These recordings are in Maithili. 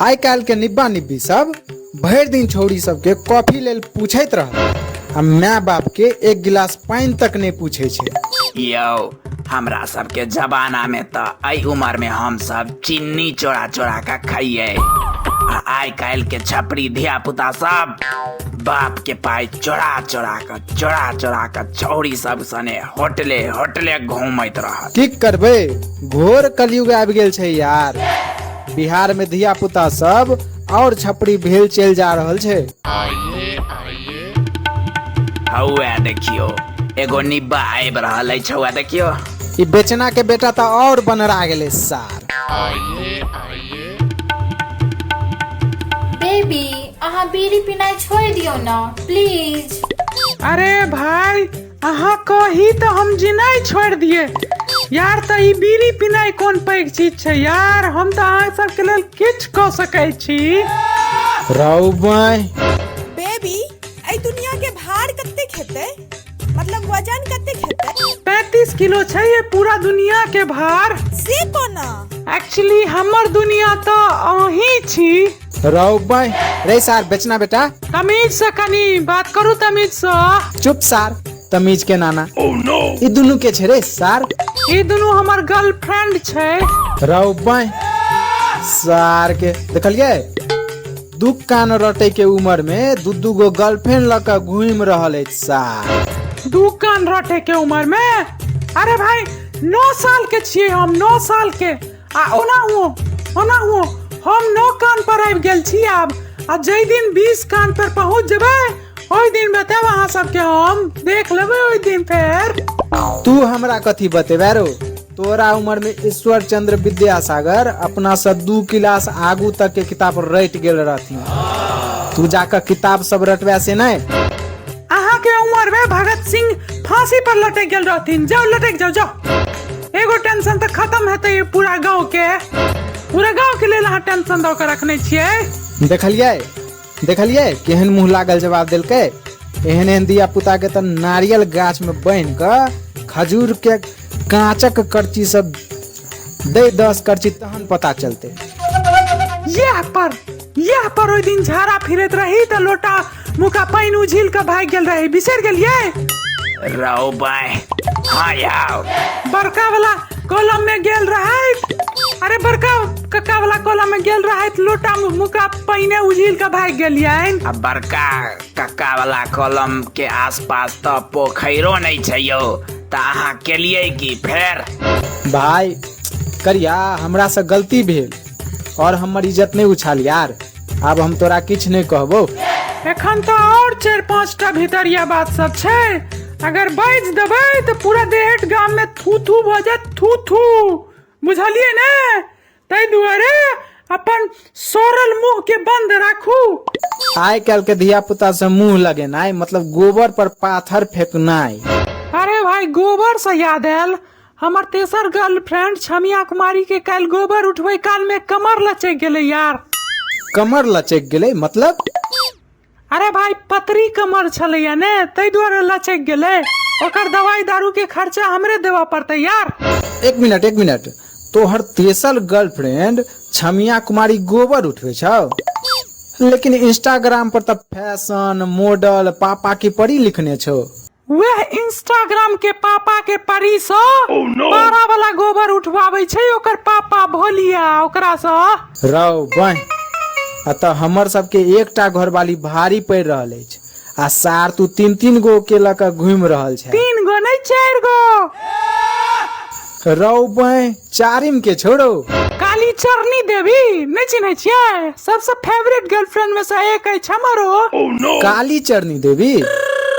आइ काल्हि के निब्बा निब्बी सब भरि दिन छौरी सबके कॉफी लेल पूछैत रहत आ माय बाप के एक गिलास पानि तक नहि पूछै छै यौ हमरा सबके जमाना में त एहि उम्र में हम सब चिन्नी चोरा चोरा के खाइए आ आइ काल्हि के छपरी धिया पुता सब बाप के पाई चोरा चोरा के चोरा चोरा के छौरी सब सने होटले होटले घूमैत रहत की करबै घोर कलयुग आबि गेल छै यार बिहार में धिया पुता सब और छपरी भेल चल जा रहल छै हौआ देखियो एगो निब्बा आबि रहल अछि हौआ देखियो ई बेचना के बेटा तो और बनरा गेले सार बेबी अहाँ बीड़ी पीनाइ छोड़ि दियौ ने प्लीज अरे भाई अहाँ कही तऽ हम जिनाइ छोड़ि दिए यार तऽ ई बीड़ी पिनाइ कोन पैघ चीज छै यार हम तऽ अहाँ सबके लेल किछु कऽ सकै छी राउ बाय बेबी एहि दुनिया के भार कते खेते मतलब वजन कते खेते पैंतीस किलो छै ये पूरा दुनिया के भार से कोना एक्चुअली हमर दुनिया तऽ अहीं छी राव बाय रे सार बेचना बेटा तमीज से कनी बात करू तमीज से चुप सार तमीज के नाना ई दुनू के छै रे सार ई दुनू हमर गर्लफ्रेंड छै राव बाय सार के देखलिए दू कान रटे के उम्र में दू दू गो गर्लफ्रेंड लऽ कऽ घूम रहल अछि सार दू कान रटे के उम्र में अरे भाई नौ साल के छिए हम नौ साल के आ ओनाहुओ ओनाहुओ हम नौ कान पर आबि गेल छी आब आ जाहि दिन बीस कान पर पहुंच जेबै ओहि दिन बताएब अहाँ सबके हम देख लेबै ओहि दिन फेर तू हमरा कथी बतेबे रो तोरा उम्र में ईश्वर चंद्र विद्यासागर अपना से दू क्लास आगू तक के किताब रट गेल रहथिन तू जाकर किताब सब रटबे से नहीं अहाँ के उम्र में भगत सिंह फांसी पर लटक गेल रहथिन जाओ लटक जाओ जाओ एगो टेंशन तऽ खत्म हेतै ई पूरा गाँव के पूरा गाँव के लेल अहाँ टेंशन दऽ के रखने छियै देखलियै देखलियै केहन मुंह लागल जवाब देलकै एहन एहन धिया पुता के तऽ नारियल गाछ में बान्हि कऽ खजूर के कांचक करची सब दे दस करची तहन पता चलते यह पर यह पर ओहि दिन झाड़ा फिरैत रही तऽ लोटा मुका पानि उझिल कऽ भागि गेल रही बिसरि गेलियै रौ बाय हाँ याओ बड़का वाला कॉलम में गेल रहैत अरे बड़का कक्का वाला कॉलम में गेल रहैत लोटा मु- मुका पानि उझिल कऽ भागि गेलियनि आ बड़का कक्का वाला कलम के आसपास तऽ पोखैरो नहि छै यौ तऽ अहाँ केलियै की फेर भाय करिया हमरा से गलती भेल और हमर इज्जत नहि उछाल यार आब हम तोरा किछु नहि कहबो एखन तऽ आओर चारि पाँच टा भितरिया बात सब छै अगर बाजि देबै तऽ पूरा देहट गाम मे थू थू भऽ जायत थू थू बुझलियै ने ताहि दुआरे अपन सड़ल मुंह के बंद राखू आइ काल्हि के धिया पुता से मुंह लगेनाइ मतलब गोबर पर पाथर फेकनाइ अरे भाई गोबर से याद आयल हमर तेसर गर्लफ्रेंड छमिया कुमारी के कल गोबर उठवे काल में कमर लचक गेले यार कमर लचक गेले मतलब अरे भाई पतरी कमर छले या ने तै द्वारा लचक गेले ओकर दवाई दारू के खर्चा हमरे देवा पड़ते यार एक मिनट एक मिनट तोहर तेसर गर्लफ्रेंड छमिया कुमारी गोबर उठवे छौ लेकिन इंस्टाग्राम पर तब फैशन मॉडल पापा की परी लिखने छौ वह इंस्टाग्राम के पापा के परी से पारा वाला गोबर उठवावे छै ओकर पापा भोलिया ओकरा से रौ बन अतः हमर सबके एकटा घरवाली भारी पड़ि रहल अछि आ सार तू तीन तीन गो के लऽ कऽ घुमि रहल छै तीन गो नहीं चार गो रौ बँय चारिम के छोड़ो काली चरनी देवी नहि चिन्है छियै सबसँ फेवरेट गर्लफ्रेंड में से एक अछि हमरो काली चरनी देवी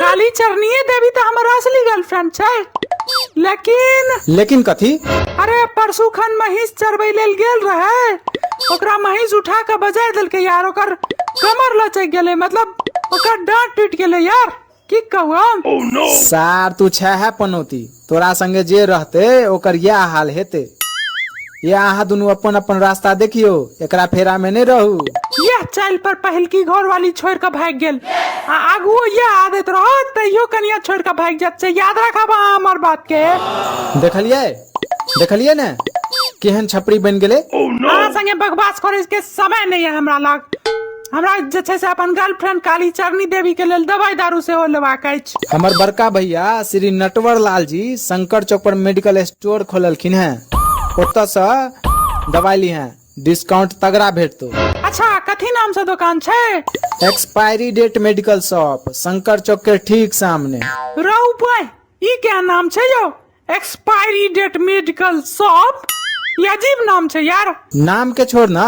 काली चरनिये देवी तऽ हमर असली गर्लफ्रेंड छै लेकिन लेकिन कथी अरे परसू खन महींस चरबै लेल गेल रहै ओकरा महींस उठा कऽ बजा देलकै यार ओकर कमर लचक गेलै मतलब ओकर डांट टूटि गेलै यार की कहू हम सार तू छह पनौती तोरा संगे जे रहते ओकर यह हाल हेते ये अहाँ दुनू अपन अपन रास्ता देखियो एकरा फेरा में नहीं रहू यह चाल पर पहिलकी घर वाली छोड़ के भाग गेल आ आगू यह आदत रहत तैयो कनिया छोड़ के भाग जात से याद रखब अहाँ हमर बात के देखलिए देखलियै ने केहन छपरी बनि गेलै अहाँ संगे बकवास करे के समय नहीं है हमरा लग हमरा जे छै से अपन गर्लफ्रेंड काली चरनी देवी के लेल दवाई दारू सेहो लेबाक अछि हमर बड़का भैया श्री नटवर लाल जी शंकर चौक पर मेडिकल स्टोर खोललखिन हैं ओतऽ से दवाई ली हैं डिस्काउंट तगड़ा भेटतो अच्छा कथी नाम से दुकान छै expiry date medical shop Shankar Chowk के ठीक सामने रौ बॉय ई क्या नाम छै यौ एक्सपायरी डेट मेडिकल शॉप ये अजीब नाम छै यार नाम के छोड़ ना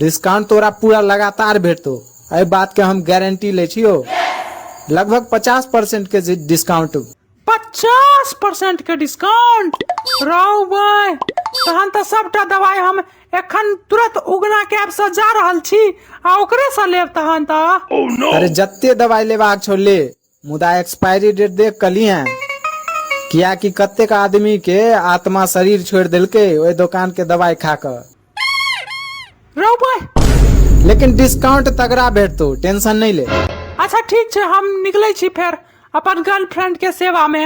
डिस्काउंट तोरा पूरा लगातार भेटतो एहि बात के हम गारंटी ले छियो लगभग पचास परसेंट के जे डिस्काउंट पचास परसेंट के डिस्काउंट रौ भाई तहन तऽ सबटा दवाई हम एखन तुरंत उगना कैब से जा रहल छी आ ओकरे से लेब तहन तऽ अरे जत्ते दवाई लेबाक छौ ले मुदा एक्सपायरी डेट देख कऽ लिहे कियाकि कतेक आदमी के आत्मा शरीर छोड़ि देलकै ओहि दोकान के दवाई खा कऽ रौ भाय लेकिन डिस्काउंट तगड़ा भेटतौ टेंशन नहीं ले अच्छा ठीक छै हम निकलै छी फेर अपन गर्लफ्रेंड के सेवा में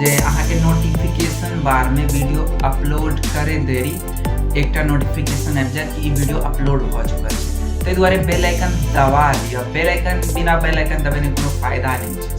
जे अहाँके नोटिफिकेशन बारमे वीडियो अपलोड करे देरी एकटा नोटिफिकेशन आबि जायत कि ई वीडियो अपलोड भऽ चुकल छै ताहि दुआरे बेल आइकन दबा लिअ बेल आइकन बिना बेल आइकन दबेने कोनो फायदा नहि छै